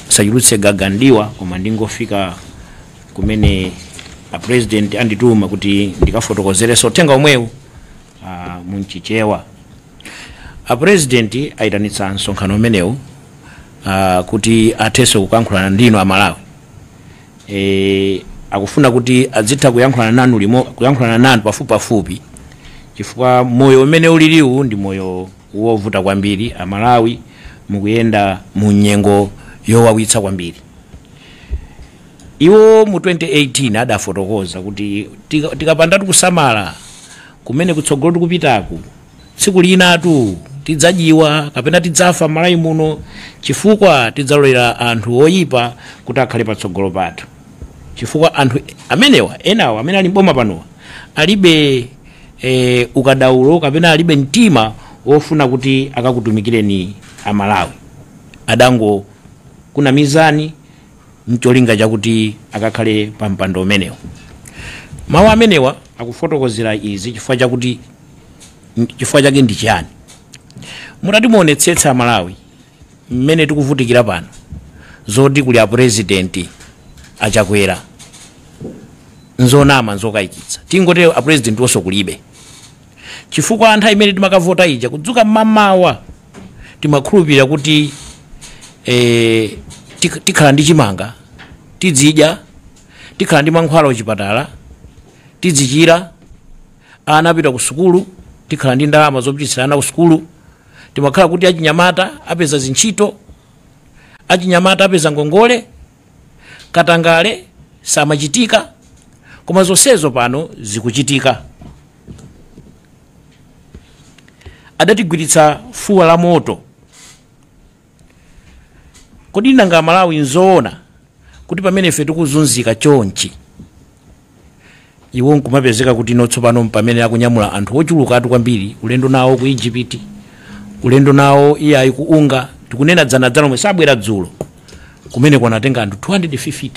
Musachulutse gaga m'diwa, koma ndingofika kumene a president andituma kuti ndikafotokozerenso uthenga omwewu ah, mu Mchichewa. A president ayitanitsa msonkhano umenewu ah, kuti athenso kuyankhulana ndinu a Malawi. E, akufuna kuti adzitha kuyankhulana nanu pafupipafupi chifukwa moyo umene uliliwu ndi moyo wovuta kwambiri amalawi mukuyenda mu nyengo yowawitsa kwambiri iwo mu 2018 adafotokoza kuti tika- tikapandatu kusamala kumene kutsogolo tikupitaku tsiku linatu tidzadyiwa kapena tidzafa malawi muno chifukwa tidzalolera anthu oyipa kuti akhale patsogolo pathu chifukwa anthu amenewa enawa amene ali mboma panowa alibe e, ukadaulo kapena alibe mtima wofuna kuti akakutumikireni amalawi adangokunamizani ncholinga chakuti akakhale pa mpando umenewo mawu amenewa akufotokozera izi chifukwa chakuti chifukwa chake ndi chiyani mutati muonetsetse amalawi mmene tikuvutikira pano zoti kuli apurezidenti achakwera nzonama nzokayikitsa tingote apurezidenti wonso kulibe chifukwa nthawi imene timakavota ija kudzuka mmamawa timakhulupirira kuti eh, tik- tikhala ndi chimanga tidzidya tikhala ndi mankhwala kuchipatala tidzichira ana apita ku sukulu tikhala ndi ndalama zopititsira ana ku sukulu timakhala kuti achinyamata apeza zintchito achinyamata apeza ngongole katangale samachitika koma zonsezo pano zikuchitika adatigwiritsa fuwa la moto Kodi nanga Amalawi nzoona kuti pamene ife tikuzunzika chonchi iwo nkumapezeka kuti no tsopano mpamene akunyamula anthu ochulukatu kwambiri ulendo nawo ku Egypt ulendo nawo iye ayi ku unga tikunena dzana dzana lomweli abwera dzulo kumene kwanatenga anthu 250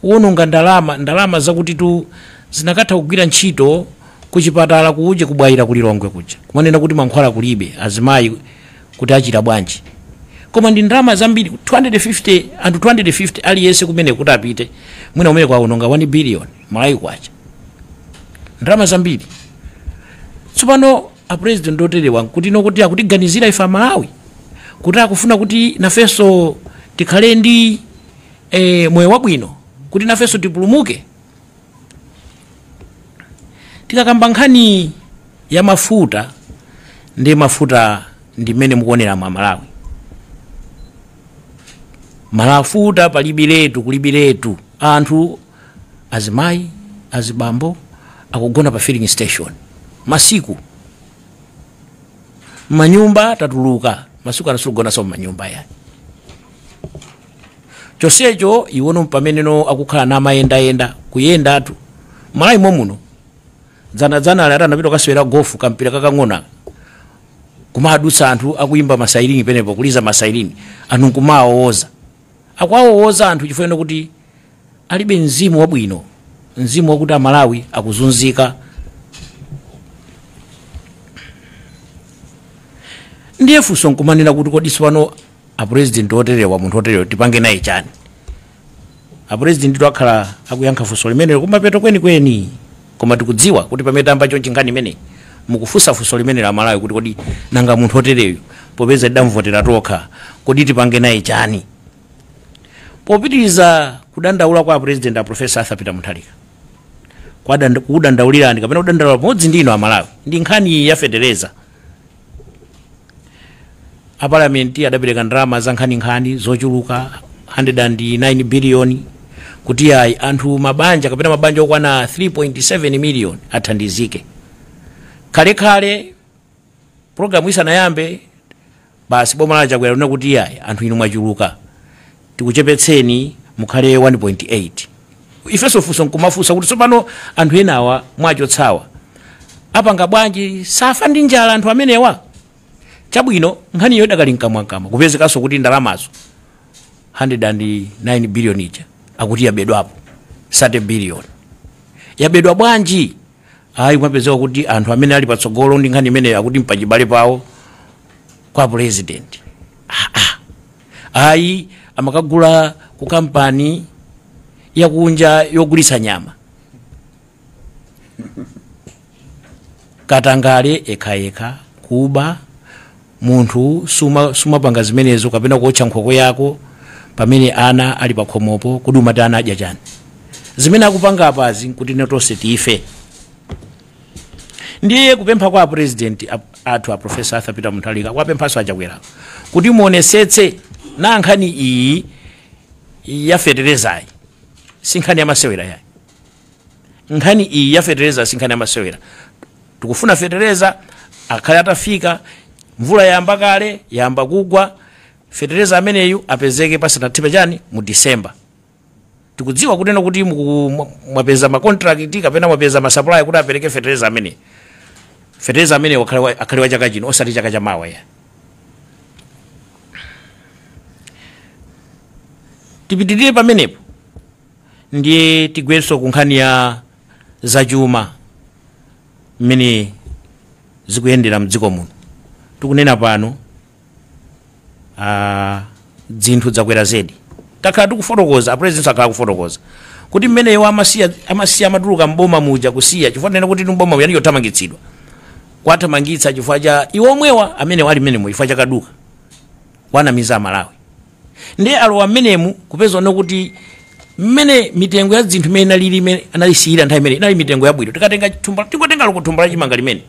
kuwononga ndalama ndalama zakutitu zinakatha kugwira ntchito kuchipatala kuuje ku Bwaila kulilongwe kuja kumanena kuti mankhwala kulibe azimayi kuti achire bwanji koma ndi ndalama zambiri 250 anthu 250 aliyense kumene kuti apite mwina umene kwawononga 1 billion Malawi kwacha ndalama zambiri tsopano apresident oterewa nkuti nokuti akutiganizira ife amalawi kuti akufuna kuti nafenso tikhale ndi e, moyo wabwino kuti nafenso tipulumuke tikakamba nkhani ya mafuta ndi mafuta ndi mmene mukuonera mwa malawi mafuta palibiretu, kulibiretu anthu azimayi azibambo akugona pa filling station masiku manyumba tatuluka masiku ano situkugonanso mmanyumba yayi chonsecho iwono mpameneno akukhala namayendayenda, kuyendatu malawi momuno dzanadzana ali atanapita kukasewera gofu kampira kakang'ona kumadutsa anthu akuyimba masairini penepo kuliza masairini anthu nkumawawowoza akuwawowoza anthu chifukwa choti alibe mzimu wabwino mzimu wakuti amalawi akuzunzika ndiye funso nkumanena kuti kodi tsopano apurezidenti oterewa munthu oterewa tipange naye chani apurezidenti akhala akuyankha funso limenelo kumapeto kwenikweni koma tikudziwa kuti pamene tayamba chonchi nkhani imeneyi mukufunsa funso limenelo amalawi kuti kodi nanga munthu otereyu popeza tidamvotera tokha kodi tipange naye chani popitiriza kudandaula kwa apurezidenti a profesa arthur peter mutharika kukudandaulirani kapena kudandaula pamodzi ndi inu amalawi ndi nkhani ya fetereza a parliament adapereka ndalama za nkhaninkhani zochuluka 109 billion kuti ayi anthu mabanja kapena mabanja okwana 3.7 million athandizike khalekhale programu isanayambe basi boma la chakwera linati ayi anthu inu mwachuluka tikuchepetseni mukhale 1.8 ifenso funso nkumafunsa kuti tsopano anthu enawa mwachotsawa apanga bwanji safa ndi njala anthu amenewa chabwino nkhaniyo idakali mkamwamkamwa, kupezekanso kuti ndalamazo 109 billion ija akuti yabedwapo 30 billion yabedwa bwanji ayi kumapezeka kuti anthu amene ali patsogolo ndi nkhani imeneyo akuti mpachibale pawo kwa apresident ayi amakagula ku kampani yakunja yogulitsa nyama katangale ekhayekha kuba Munthu sumapanga zimenezo kapena kuotcha nkhokwe yako pamene ana ali pakhomopo kodi umati ana adya chani? Zimene akupanga apazi nkuti ife tonse tife. Ndiye kupempha kwa a president a- athu a Professor Arthur Peter Mutharika kuwapemphanso a Chakwera kuti muonesetse na nkhani iyi ya feterezayi si nkhani ya masewera yayi. nkhani iyi ya fetereza si nkhani yamasewera tikufuna fetereza akhale atafika mvula yayamba kale yayamba kugwa fetereza ameneyu apezeke pasanathipe chani mu disemba tikudziwa kutena kuti muku- mwa- mwapeza makontrakiti kapena mwapeza masapulaya kuti apereke fetereza amene fetereza amene akhale wa- akhale wa chaka chino osati chaka cha mawa ya tipitirire pamenepo ndiye tigwenso ku nkhani ya zachuma mmene zikuyendera mdziko muno tikunena pano ah, dzinthu dzakwera zedi takhala tikufotokoza apresident akhala akufotokoza kuti mmene iwo amasiya amasiya amatuluka mboma muja kusiya chifukwa tinene kuti m'boma yani yothamangitsidwa kwathamangitsa chifukwa cha iwo omwewa amene ali mmenemo chifukwa cha kaduka kuwanamiza amalawi ndiye alowa mmenemu kupeza ano kuti mmene mitengo ya dzinthu imene inalili imene analisiyira nthawi imene inali mitengo yabwino tikatenga thumba tingotenga loko thumba la chimanga limene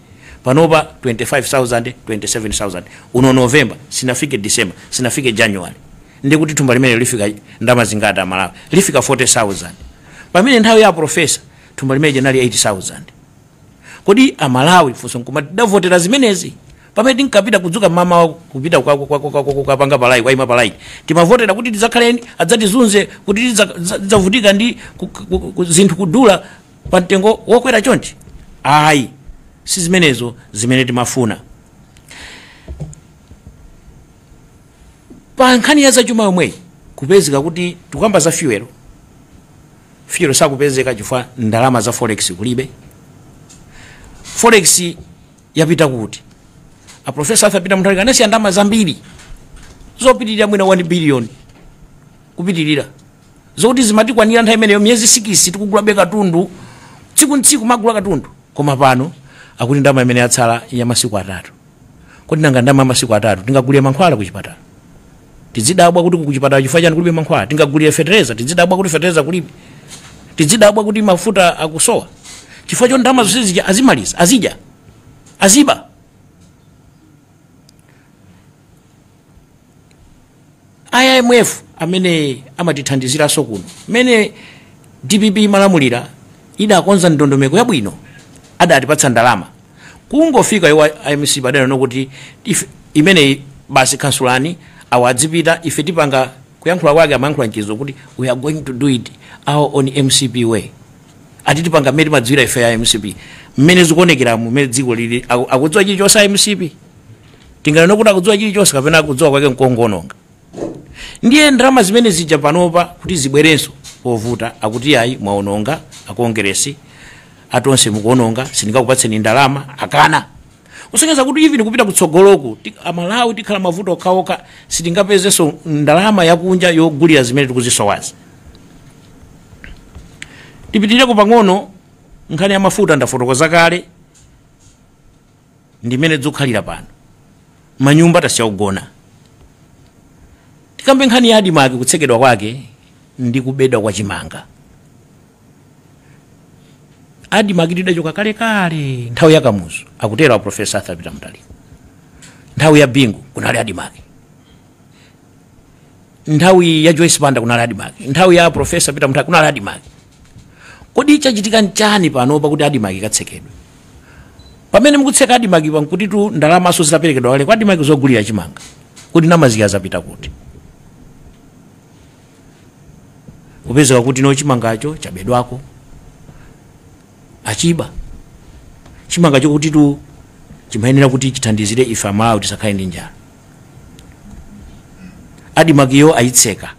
panopa 25000 27000 uno november sinafike december sinafike january ndi kuti thumba limenelo lifika ndalama zingati amalawi lifika 40000 pamene nthawi ya profesa thumba limeneli linali 8000 kodi amalawi funso nkumati tidavotera zimenezi pamene tinkapita kudzuka mamawa kupita kwa- kwa- kwa- kwa- kwa- kukapanga palayini kukaima palayini timavotera kuti tidzakhale adzatizunze kuti tidza- tidza- tidzavutike ndi ku- ku- ku- zinthu kudula pa mtengo wokwera chonchi ayi si zimenezo zimene timafuna pa nkhani ya zachuma yomweyi kupezeka kuti tikukamba za fuel fuel sakupezeka chifukwa ndalama za forex kulibe forex yapita kuti a professor arthur peter mutharika anasiya ndalama zambiri zopitirira mwina 1 billion kupitirira zokuti zimatikwanira nthawi imeneyo miyezi sikisi tikugulabe katundu tsiku ndi tsiku timagula katundu koma pano akuti ndalama imene yatsala ya masiku atatu Kodi nanga ndalama ya masiku atatu tingagulire mankhwala kuchipatala? Tidzidabwa kuti kuchipatala chifukwa chani kulibe mankhwala? Tingagulire fetereza? Tidzidabwa kuti fetereza kulibe? Tidzidabwa kuti mafuta akusowa? Chifukwa choti ndalama zonse zija azimaliza, azidya, aziba. imf amene amatithandiziranso kuno mmene dpp imalamulira idakonza ndondomeko yabwino adatipatsa ndalama kungofika iwo a mcp adanena kuti ife- imeneyi basi kansulani awo adzipita ife tipanga kuyankhula kwake amayankhula mchizungu kuti we are going to do it our own mcp way ati tipanga mmene timadziwira ife ya mcp mmene zikuonekera mmene dziko lili aku- akudziwa chilichonse a mcp tinganene kuti akudziwa chilichonse kapena akudziwa kwake nkongononga ndiye ndalama zimene zija panopa kuti zibwerenso povuta akuti ayi mwaononga akongeresi atonse mukuononga sindingakupatseni ndalama akana kusonyeza kuti even kupita kutsogoloku ti- amalawi tikhala mmavuto okhaokha sitingapezenso ndalama yakunja yogulira zimene tikuzisowazi tipitireko pang'ono nkhani ya mafuta ndafotokoza kale ndimmene zikukhalira pano manyumba tasiya kugona tikambe nkhani ya adimaki kutsekedwa kwake ndi kubedwa kwa chimanga adimakitu idachoka kalekale nthawi ya kamuzu akutero a profesa arthur peter mutharika nthawi ya bingu kunali adimaki nthawi ya joyce banda kunali adimaki nthawi ya aprofesa peter mutharika kunali adimaki Kodi chachitika nchani panopa kuti Admarc ikatsekedwe? Pamene mukutseka Admarcpa nkutitu ndalamaso zitaperekedwa kale kwa Admarc zogulira chimanga. Kodi ndalamazi zapita kuti? Kupezeka kuti no chimangacho chabedwanso. Achiba. Chimanga chakutitu chimayenera kuti chithandizire ife Amalawi tisakhale ndi njala. Admarcyo ayitseka.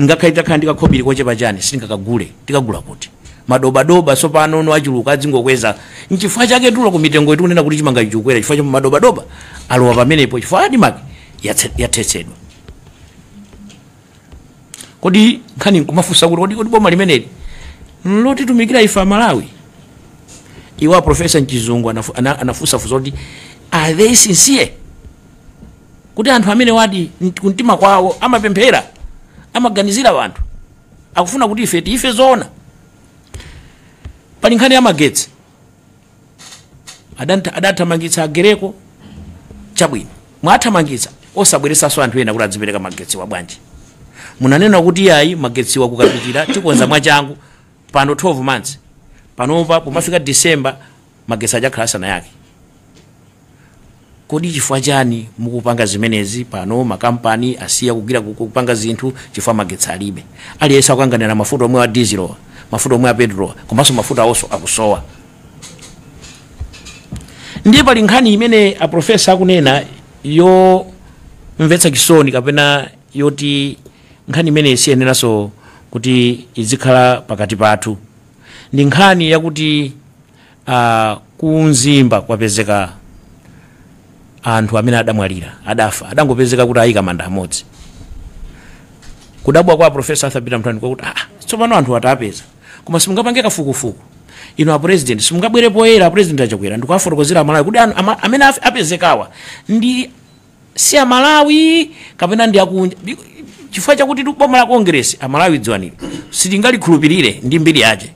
Ngakhale titakhala ndi kakhobiri kochepa chani, sitingakagule. Tikagula kuti? Madobadoba tsopano no achuluka, adzingokweza. Nchifukwa chake table ya mitengoyi tikunena kuti chimangacho chikukwera chifukwa cha madobadoba alowa pamenepo chifukwa Admarc yatse, yathetsedwa. Kodi nkhani nkumafunsa kuti kodi, kodi boma limeneli nlotitumikira ife Amalawi? Iwo a Professor mchizungu anafu- ana- anafunsa funso kuti are they sincere? kuti anthu amenewadi mt- kumtima kwawo amapemphera amaganizira anthu akufuna kuti ife tife zoona pali nkhani ya magetsi adanta- adathamangitsa agereko chabwino mwathamangitsa osabweretsanso anthu ena kuti adzipereka magetsiwa bwanji munanena kuti yayi magetsiwa kukapitira tikonza mwachangu pano 12 months panopa pomafika december magetsi aja akhala asanayake kodi chifukwa chani mukupanga zimenezi pano makampani asiya kugwira ku- kupanga zinthu chifukwa magetsi alibe aliyense akukanganira mafuta omwewa a dizilowa mafuta omwe a petrolwa komanso mafuta awonso akusowa ndiye pali nkhani imene aprofesa akunena yomvetsa chisoni kapena yoti nkhani imeneyi siyeneranso kuti izikhala pakati pathu Ndi nkhani yakuti a ku Mzimba kwapezeka anthu amene adamwalira, adafa, adangopezeka kuti ayika manda amodzi. Kudabwa kwa a Professor Arthur Peter Mutharika kwakuti ah, tsopano anthu awapeza. Koma simungapange kafukufuku. Inu a President, simungabwere poyera a President a Chakwera ndikuwafotokozera a Malawi kuti anu, ama, amene afe- apezekawa ndi si a Malawi kapena ndi akunja Bi- chifukwa chakuti tu boma la Congress a Malawi dziwani ili sitingalikhulupirire ndi mbiri yace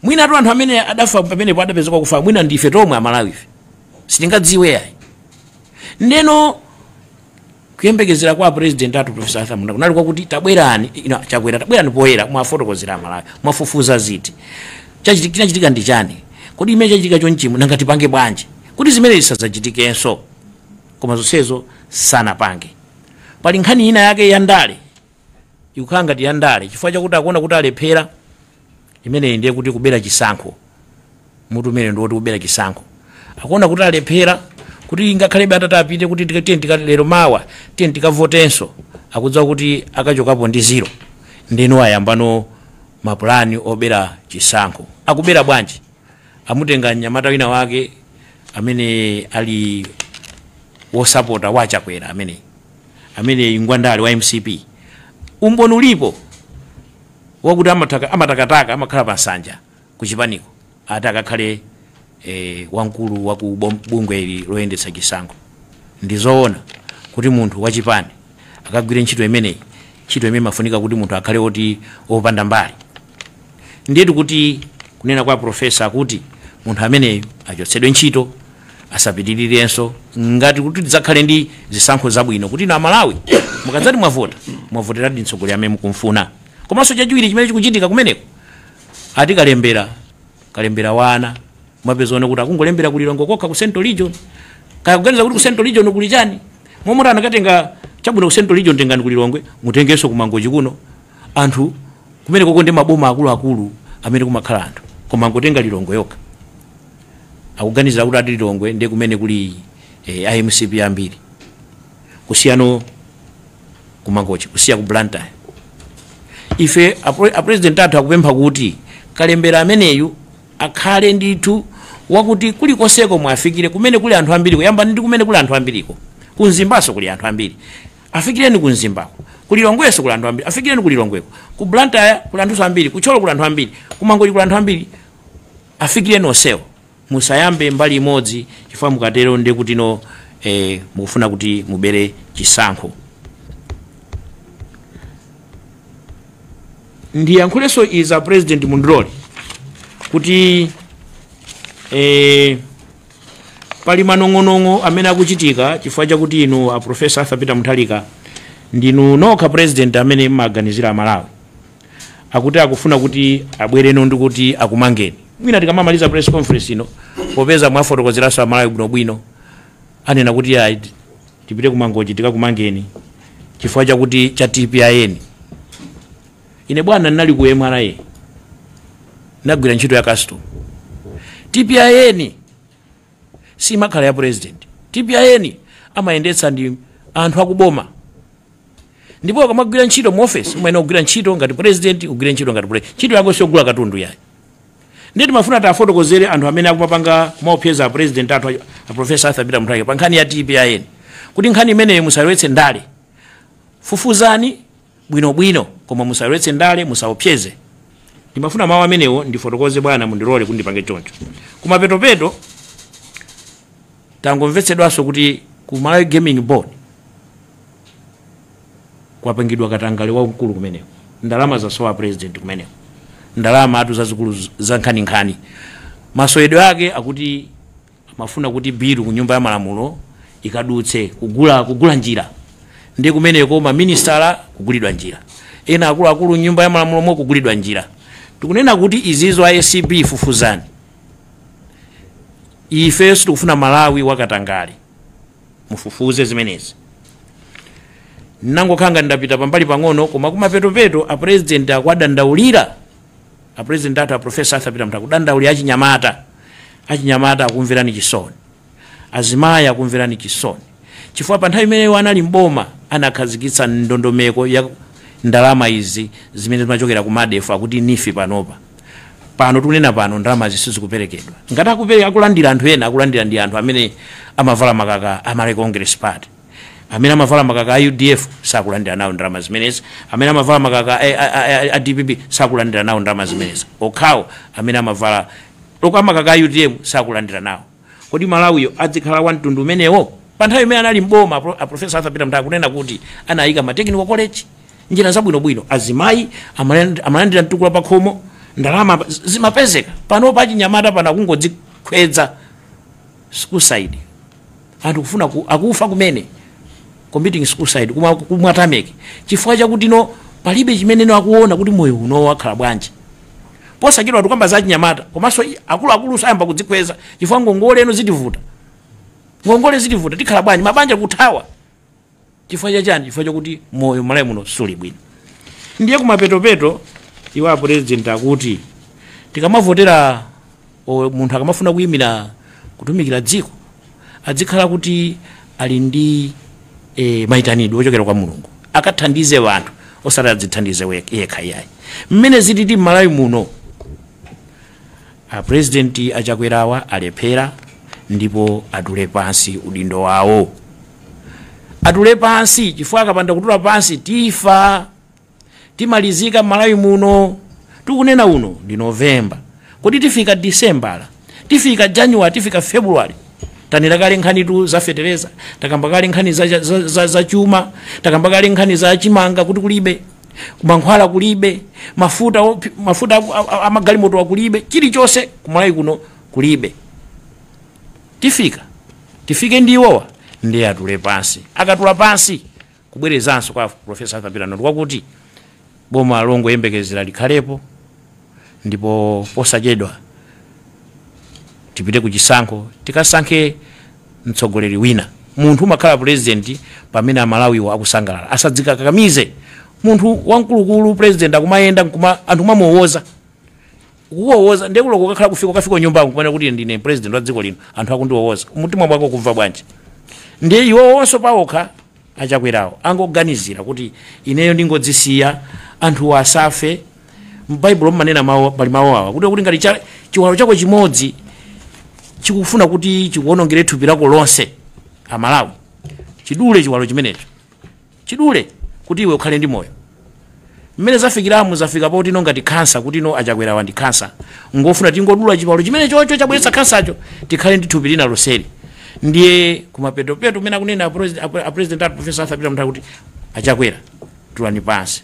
mwina tu anthu amene adafa pamenepo adapezeka akufa mwina ndife tomwe a Malawife sitingadziwe yayi ndeno kuyembekezera kwa a president athu profesa Arthur Mutharika kunali kwakuti tabwerani inu a Chakwera tabwerani poyera muwafotokozere a Malawi mwafufuza ziti Chachiti- chinachitika ndi chani kodi zimene chachitika chonchimu nanga tipange bwanji kuti zimenezi zisadzachitikenso koma zonsezo sanapange pali nkhani ina yake ya ndale ikukhala ngati ya ndale chifukwa chakuti akuona kuti alephera imeneyi ndiye kuti kubera chisankho mutu umenewu ndiwoti kubera chisankho akuona kuti alephera kuti ngakhalebe atati apite kuti tika- tiye tika- lero mawa tiye tikavotenso akudziwa kuti akachokapo ndi ziro ndeno ayambano mapulani obera chisankho akubera bwanji amutenga mnyamata wina wake amene ali wosapota a Chakwera amene ameneyu ngwandale wa mcp umboni ulipo wakuti amataka- amatakataka amakhala pa nsanja ku chipaniko ati akakhale eh, wamkulu wa ku bom- bungwe ili loyendetsa chisankho ndi zoona kuti munthu wachipani akagwire ntchito imeneyi ntchito imene imafunika kuti munthu akhale oti opanda mbali Ndiyetu kuti kunena kwa a Professor akuti munthu ameneyo achotsedwe ntchito asapitirirenso ngati kuti tidzakhale ndi zisankho zabwino kuti inu a Malawi mukadzati mwavota mwavoteradi mtsogoleri amene mukumfuna komanso chachiwiri chimene chikuchitika kumeneko ati kalembera kalembera wa ana mwapezano kuti akungolembera ku Lilongwe kokha ku central region kaya akuganiza kuti ku central region kuli chani momwe anakatenga chabwino ku central region tengani ku Lilongwe mutengenso ku Mangochi kuno anthu kumenekoko ndi maboma akuluakulu amene kumakhala anthu koma angotenga lilongwe yokha akuganiza kuti ati lilongwe ndi kumene kuli eh, a mcp ambiri kusiyano ku Mangochi kusiya ku blantyre ife apre- apresident athu akupempha kuti kalembera ameneyu akhale ndithu wakuti kulikonseko muwafikire kumene kuli anthu ambiri kuyamba ndi kumene kuli anthu ambiriko ku mzimbaso kuli anthu ambiri Afikireni ku Mzimbako. Ku Lilongwenso kuli anthu ambiri. Afikireni ku Lilongweko. Ku Blantyre kuli anthunso ambiri. Ku Thyolo kuli anthu ambiri. Ku Mangochi kuli anthu ambiri. Afikireni onsewo. Musayambe mbali imodzi chifukwa mukatero ndi kuti no, mukufuna kuti mubere chisankho. Ndiyankhulenso izi a President mundilole kuti eh, Pali manong'onong'o amene akuchitika chifukwa chakuti inu a Professor Arthur Peter Mutharika ndinu nokha president amene mmaganizira Amalawi. Akuti akufuna kuti abwereno ndi kuti akumangeni. Mwina tikamamaliza press conference ino popeza mwafotokozeranso Amalawi bwinobwino anena kuti ayi tipite ku Mangochi tikakumangeni chifukwa chakuti cha TPIN. Ine bwana ndinali ku MRA ndagwira ntchito ya customs. TPIN simakhala ya president. TPIN amayendetsa ndi anthu akuboma ndipo ukamagwira ntchito mu office umayenera kugwira ntchito ngati president ugwire ntchito ngati president ntchito yako siyogula katundu yayi ndiye timafuna tiwafotokozere anthu amene akupanga maopseza a president athu a- a professor arthur peter mutharika pa nkhani ya tpin kuti nkhani imeneyo musalowetse ndale fufuzani bwino bwino koma musalowetse ndale musaopseze ndimafuna mawu amenewo ndifotokoze bwana mundilole kuti ndipange choncho kumapetopeto tangomvetsedwanso kuti ku malawi gaming board kwapangidwa katangale wamkulu kumeneko ndalama zasowa president kumeneko ndalamatu zazikulu z- zankhaninkhani masowedwe ake akuti Amafuna kuti bill ku nyumba ya malamulo ikadutse, kugula kugula njira ndiye kumeneko, ma ministala kugulidwa njira, ena akuluakulu mnyumba ya malamulomo kugulidwa njira. Tikunena kuti izizo a acb fufuzani, ifeyo sitikufuna Malawi wa katangale, mufufuze zimenezi. Ndangokhala ngati ndapita pambali pang'ono, koma kumapetopeto a president akuwadandaulira. A president athu a Prof. Arthur Peter Mutharika akudandaulira achinyamata. Achinyamata akumverani chisoni. Azimayi akumverani chisoni. Chifukwa pa nthawi imene iwo anali m'boma anakhazikitsa ndondomeko ya ndalama izi zimene zimachokera ku MADEF akuti NEEF panopa. Pano tikunena pano ndalamazi sizikuperekedwa. Ngati akupereka akulandira anthu ena akulandira ndi anthu amene amavala makaka a Malawi Congress Party. amene amavala makaka a udf sakulandira nawo ndalama zimenezi amene amavala makaka a- a- a- a- a dpp sakulandira nawo ndalama zimenezi okhawo amene amavala loko amakaka a utm sakulandira nawo kodi malawiyo adzikhala wa mtundu umenewo pa nthawi imene anali mboma apro- aprofesa arthur peter mutharika akunena kuti anayika ma technical college njira zabwinobwino azimayi amaland- amalandira mtukula pakhomo ndalama pa- zimapezeka pano achinyamata pano akungodzikhweza suicide anthu kufuna ku, akufa kumene committing suicide kumakumwa tameki chifukwa chakuti no palibe chimene no akuona kuti moyo uno wakhala bwanji posachedwa tikukamba za chinyamata komanso i- akuluakulu ayamba kudzikhweza chifukwa ngongole ino zitivuta ngongole zitivuta tikhala bwanji mabanja kuthawa chifukwa cha chani chifukwa chakuti moyo malawi muno suli bwino ndiye kumapetopeto iwo a president akuti tikamavotera o- munthu akamafuna kuyimira kutumikira dziko adzikhala kuti ali ndi e, mayitanidwe ochokera kwa mulungu akathandize wanthu osati adzithandize we- yekha iyayi mmene zititi mmalawi muno A president a Chakwerawa alephera ndipo atule pansi udindo wawo. Atule pansi chifukwa akapanda kutula pansi tifa. Timalizika Malawi muno. Tikunena uno ndi November. Kodi tifika December, tifika January, tifika February. Tanira kale nkhanitu za fetereza, takamba kale nkhani za, za, za, za chuma, takamba kale nkhani za chimanga kuti kulibe. kumankhwala kulibe mafuta opi- mafuta aku- a- a- amagalimoto kulibe chilichonse kumalawi kuno kulibe tifika tifike ndi iwowa ndiye atule pansi akatula pansi kubwerezanso kwa profesa arthur pilani kwakuti boma longoyembekezera likhalepo ndipo posachedwa tipite ku chisankho tikasankhe mtsogoleri wina munthu umakhala president pamene amalawiwo akusangalala asadzikakamize munthu wamkulukulu president akumayenda nkuma anthu kumamuwowoza kuwowoza ndiye kulo kukakhala kufika kufika kunyumba kumene kuti ndine president wa dziko lino anthu akundiwowoza mutima mwako kumva bwanji ndiye iwo onso pawokha Achakwerawo angoganizira kuti ineyo ndingodzisiya anthu asafe. M'Baibulo mumanena mawu, pali mawu awa kuti kuti ngati cha, chiwalo chako chimodzi chikufuna kuti chikuwonongere thupi lako lonse, Amalawi, chidule chiwalo chimenecho, chidule kuti iwe ukhale ndi moyo. mmene zafikiramo zafika poti no ngati khansa kuti no achakwerawa ndi khansa ngofuna tingodula chiwalo chimenecho cho chabweretsa khansacho tikhale ndi thupi lina lonseli ndiye kumapetopeto mmene akunena a president- a- a president ati profesa arthur peter mutharika kuti a chakwera tulani pansi